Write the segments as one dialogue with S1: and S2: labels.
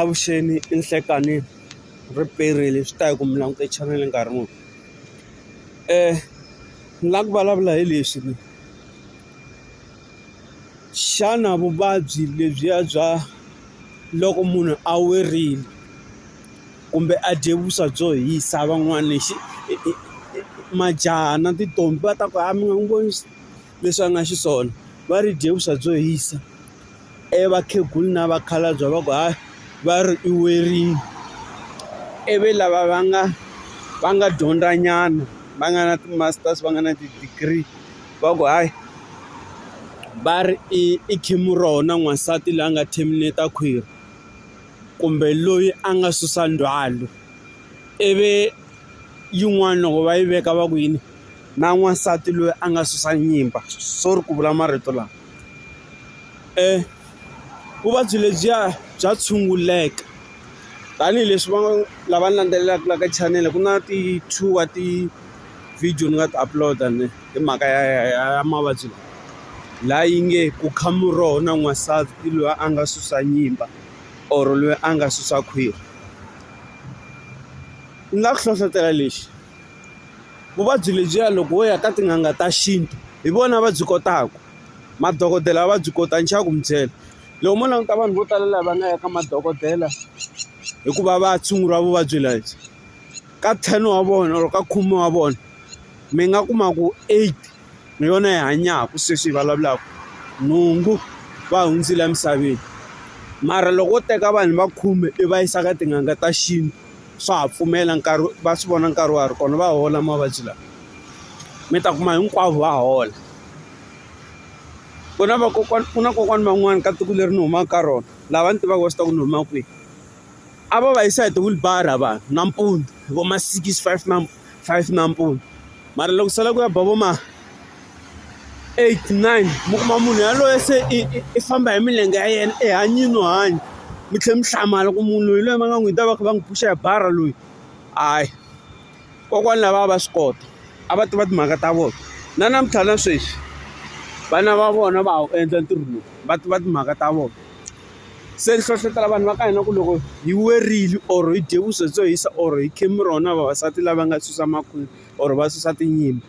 S1: Avuxeni i Nhlekani ri perile swi ta ya ku mi langute chanele nkarhi muni ni lava ku vulavula hi leswi ni xana vuvabyi lebyiya bya loko munhu a werile kumbe a dye vuswa byo hisa van'wani majaha na tintombhi va ta ku ha mi nga n'wi voni. leswi a nga xiswona va ri dye vuswa byo hisa ivi vakhegula na vakhalabye va ku hayi va ri i werile ivi lava va nga va nga dyondzanyana va nga na ti-masters va nga na ti-degree va ku hayi va ri i i khimuroho na n'wansati la nga terminate-a khwiri kumbe loyi a nga susa ndzhwalo ivi yin'wani loko va yi veka va ku yini. na n'wansati loyi a nga susa nyimba sorry ku vula marito lawa vuvabyi lebyiya bya tshunguleka tanihileswi va lava landzelelaka la ka chanele ku na ti-two wa ti-video ni nga ti upload-a ni hi mhaka ya ya ya ya mavabyi lawa laha yi nge ku kha muroho na n'wansati loyi a nga susa nyimba or loyi a nga susa khwiri ni nga ku hlohlotela lexi. vuvabyi lebyiya loko wo ya ka tin'anga ta xintu hi vona va byi kotaka madokodela va byi kota ni xa ku mi byela loko mo languta vanhu vo tala lava nga ya ka madokodela hikuva va tshunguriwa vuvabyi lebyi ka ten wa vona or ka khume wa vona mi nga kuma ku eight hi yona yi hanyaka sweswi hi vulavulaka nhungu va hundzile emisaveni mara loko wo teka vanhu va khume i va yisa ka tin'anga ta xintu. swa ha pfumela nkarhi va swi vona nkarhi wa ha ri kona va hola mavabyi lawa mi ta kuma hinkwavo va hola ku na vakokwana ku na kokwana van'wani ka tiko leri ni humaka ka rona lava ni tivaka va swi tiva ku ni huma kwihi a va va yisa hi ti-wheelbarrow vanhu nampundzu hi vo ma six five . five nampundzu mara loko sala ku ya ba vo ma eight nine mi kuma munhu yaloye se i i famba hi milenge ya yena i hanyini no hanya mi tlhela mi hlamala ku munhu loyi loyi va nga n'wi ta va kha va n'wi pfuxa hi bara loyi hayi kokwani lava a va swi kota a va tiva timhaka ta vona na namuntlha na sweswi vana va vona va ha wu endla ntirho lowu va tiva timhaka ta vona. se ni hlohletela vanhu va ka hina ku loko hi werile or hi dye vuswa byo hisa or hi khemi ro na vavasati lava nga susa makhwiri or va susa tinyimpi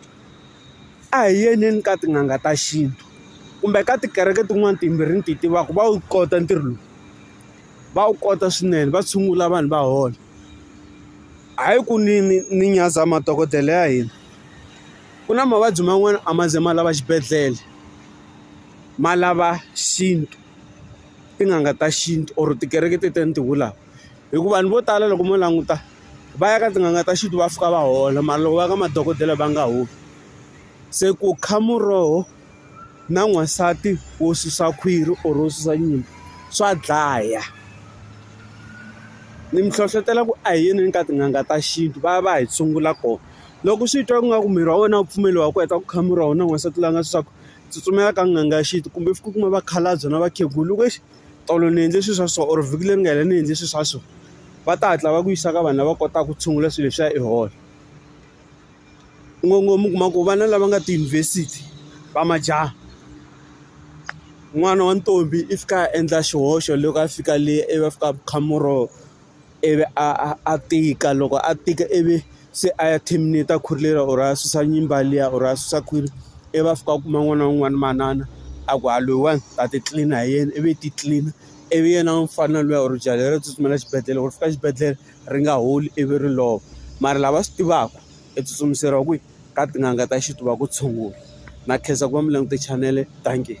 S1: a hi yeleni ka tin'anga ta xintu kumbe ka tikereke tin'wani timbirhi ni ti tivaka va wu kota ntirho lowu va wu kota swinene va tshungula vanhu va hola hayi ku ni ni ni nyaza madokodela ya hina ku na mavabyi man'wani a ma ze ma lava xibedhlele ma lava xintu. tin'anga ta xintu or tikereke ti tele ni ti vulaka hi ku vanhu vo tala loko mo languta va ya ka tin'anga ta xintu va fika va hola mara loko va ya ka madokodela va nga holi se ku kha muroho na n'wansati wo susa khwiri or wo susa nyimpi swa dlaya ni mi hlohlotela ku a hi yeni ka tin'anga ta xintu va ya va ya hi tshungula kona loko swi twa ingaku miri wa wena a wu pfumeli wa ku heta ku kha murhi wa wena n'wansati loyi a nga susaka. tsutsumela ka n'anga ya xintu kumbe u kuma vakhalabya na vakhegula loko exi tolo ni endle swilo swa so or vhiki leri nga hela ni endle swilo swa so va ta hatla va ku yisa ka vanhu lava kotaka ku tshungula swilo leswiya i hola ngopfu u kuma ku vana lava nga tiyunivhesiti va majaha n'wana wa ntombi i fika a endla xihoxo loko a fika le ivi a fika a kha muroho. ivi a a a tika loko a tika ivi se a ya terminate-a khwiri leri or a susa nyimba liya or a susa khwiri ivi a fika a kuma n'wana wun'wana manana a ku ha loyiwani ta ti tlilina hi yena ivi ti tlilina ivi yena mufana luya or jaha leriya ri tsutsumela xibedhlele loko ri fika xibedhlele ri nga holi ivi ri lova mara lava swi tivaka i tsutsumiseriwa kwihi ka tin'anga ta xintu va ku tshungula na khensa ku va mi langute chanele dankie.